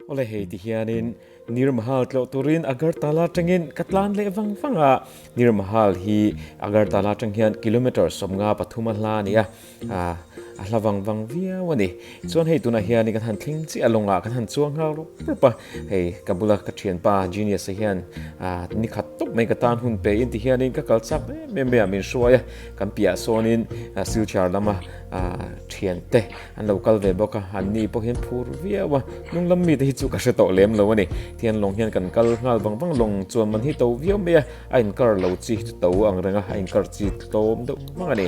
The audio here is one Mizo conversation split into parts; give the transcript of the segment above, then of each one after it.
Awle hei ti hianin Nirmahal tlawh turin Agartala atangin ka tlan leh vang vang a. Nirmahal hi Agartala atang hian kilometre sawm nga pathum a hla a ni a. A hla vang vang viau a ni. Chuan hei tunah hian kan han thleng chiah lawngah kan han chuang nghal rup rup a. Hei ka bula ka thianpa Genius te hian ni khat tawp mai ka tan hun peih in ti hianin ka kal chak em em mai a min hruai a. Kan piahah sawnin Silchar lama thian te an lo kal ve bawk a an ni pawh hian phur viau a hnunglam mite hi chu ka hre tawh lem lo a ni thianlawng hian kan kal nghal vang vang lawng chuan man hi to viau mai a a in kar lo chi chu to ang reng a a in kar chi tlawm deuh vang a ni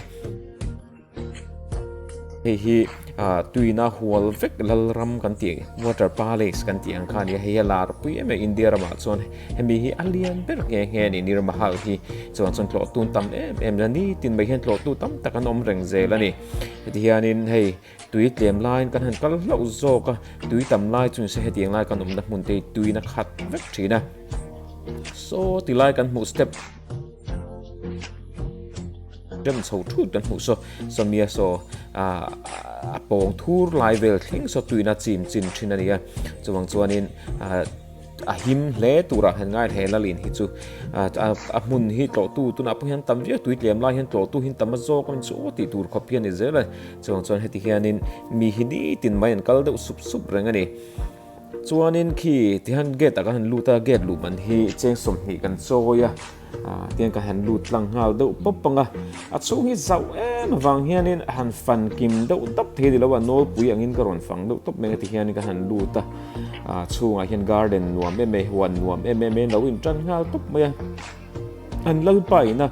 hei hi ah, tuina hual vek lalram kan tih water palace kan tih ang kha a ni hei hi a lar pui em em india ramah chuan Hemi hi a lian ber nghe nghe a ni, Nir Mahal hi chuan chuan tlawh tun tam em em la ni, tin mai hian tlawh tu tam tak an awm reng zel a ni. Heti hianin hei tui tlem laiin kan han kal hlauh zawk a, tui tam lai chu nise hetiang lai kan awmna hmun te hi tuiin a khat vek thin a. Saw ti lai kan hmuh step rem chho thut kan hmuh saw, Sawmia saw a pawng thur lai vel thleng saw tuiin a chim chin thin a ni a, chuvang chuanin A him hle turah hian ngaithei lal in hi chu a hmun hi tlawhtu tunah pawh hian tam viau tui tlem lai hian tlawhtu hian tam a zawk a ni chu tih tur khawp hi a ni zel a ni. Chuvang chuan heti hianin mi hi nitin mai an kal deuh sup sup reng a ni. Chuanin khi tihian gate ah ka han lut a, gate luhban hi cheng sawmhnih kan chawi a. Aa, tiang ka han lut tlang nghal deuh pawp anga, a chhung hi zauh em avang hianin a han fan kim deuh tawp thei nilo a, nawlpui angin ka rawn fang deuh tawp mai anga ti hianin ka han lut a, aa chhungah hian garden nuam em e, huan nuam em em e, an lo inṭan nghal tawp mai a, an Lalpa ina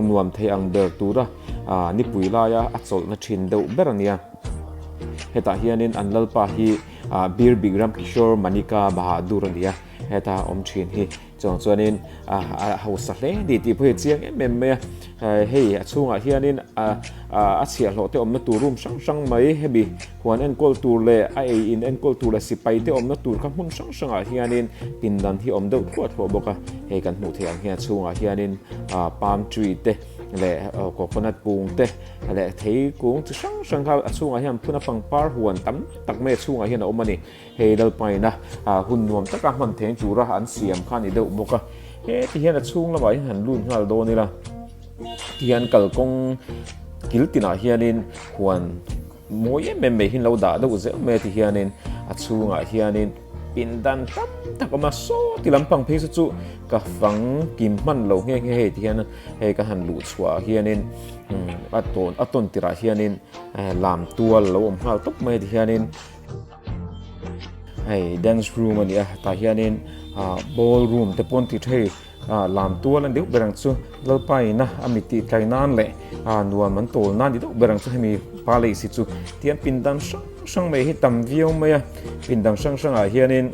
nuam thei ang ber tura aa nipui laia a chawlhna ṭhin deuh ber a nia. Hetah hianin an Lalpa hi aa Birbikram Kishore Manika Bahadur a nia, heta awm ṭhin hi Chawng chuanin a hausa hle ni tih pawh hi a chiang em em mai a. Hei a chhungah hianin a chhiah hlawh te awmna tur room hrang hrang mai hemi huan enkawl tur leh a ei in enkawl tur leh sipai te awmna tur kha hmun hrang hrangah hianin pindan hi awm deuh thluah thluah bawk a. Hei kan hmuh theih ang hian a chhungah hianin palm tree te leh coconut pung te leh thei kung chi hrang hrang kha a chhungah hian phuna pangpar huan tam tak mai a chhungah hian a awm a ni. He Lalpaina hun nuam taka hman theng tura an siam kha a ni deuh bawk a, heti hian a chhung lamah hi han lut nghal dawn ila ti hian kalkawng kil tinah hianin huan mawi em em mai hi an lo dah deuh zeuh mai a ti hianin a chhungah hianin pindan tam tak a awm a, sawti lampang phei chu chu ka fang kim hman lo nghe nghe heti hian hei ka han luh chhuahah hianin a tawn a tawn tirah hianin lam tual a lo awm nghal tawp mai a ti hianin hei dance room a ni a tah hianin ah ball room te pawh an ti thei a lam tual a ni deuh ber ang chu lalpa ina a mit tih tlai nan leh a nuam an tawl nan ni deuh ber ang chu hemi pa leh si chu tihian pindan hrang hrang mai hi tam viau mai a pindan hrang hrangah hianin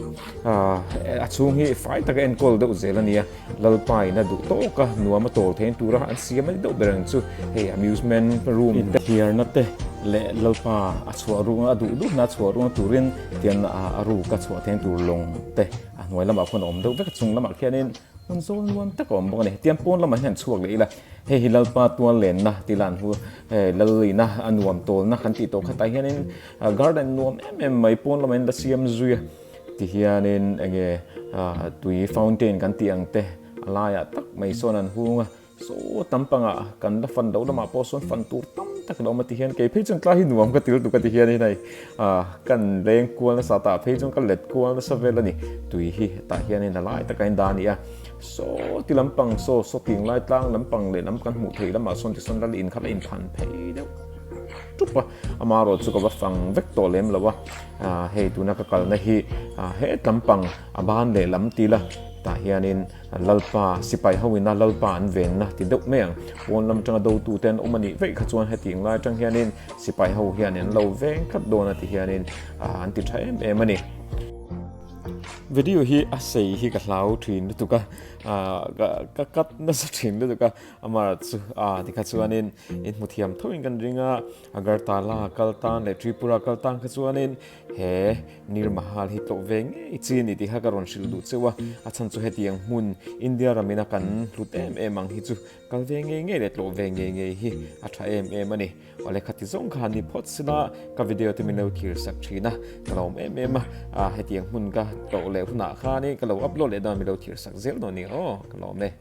ah a chhung hi fai taka enkawl deuh zel a ni a. Lalpa in a duh tawk a, nuam a tawl theiin tura an siam a ni deuh ber ang chu hei amusement room in te thiarna te leh Lalpa a chhuah ruk a, a duh duh na a chhuah ruk na turin tian a ruk a chhuah theiin tur lawng te a hnuai lamah khawn a awm deuh vek a, chung lamah khianin hun zawl nuam tak a awm bawk a ni. Tian pawn lamah hian an chhuak leh ila, hei hi Lalpa tual lenna tih ila an hmu a, he Lal in a nuam tawlna kan tih tawh khatah hianin garden nuam em em mai pawn lamah hian la siam zui a. Ti hianin enge tui fountain kan tih ang te a laiah tak mai sawn an hung a, saw tam pangah kan la fan loh lamah pawh sawn fan tur tam tak alo awm a ti hian kei phei chuan tlai hi nuam ka tel tuk a ti hian hei ka inreng kual nasa tah phei chuan ka let kual nasa vel a ni. Tui hi hetah hianin la lai taka indah a ni a, saw ti lampang saw saw ting lai tlang lampang lehlam kan hmuh theih lamah sawn tisawn lal in kha la inphan phei deuh ṭup a, amaherawhchu ka va fang vek tawh lem lo a. Hei tuna ka kalna hi hetlam pang a ban leh lam ti la, tah hianin Lalpa sipai ho ina Lalpa an venna ti deuh mai ang. Pawn lam atanga dotu te an awm a nih vei kha chuan heti ngai atang hianin sipai ho hianin an lo veng tlat dawn a ti hianin an ti tha em em a ni. Video hi a sei hi ka hlau thin lutuk a, ka cut nasa thin lutuk a, amaherawhchu tikha chuanin in hmu thiam theuhin kan ring a. Agartala kal tan leh Tripura kal tan kha chuanin he Nir Mahal hi tlawh ve ngei chi a ni tih kha ka rawn hrilh duh cheuh a, a chhan chu hetiang hmun India ramin a kan hlut em em ang hi chu kal ve ngei ngei leh tlawh ve ngei ngei hi a tha em em a ni. Awle khati zawng khan ni phawt sila ka video te min lo thlir sak thin a, ka lawm em em a, a hetiang hmun ka tlawh leh hunah khanin ka lo upload leh dan min lo thirsak zel dawn nia aw ka lawm e.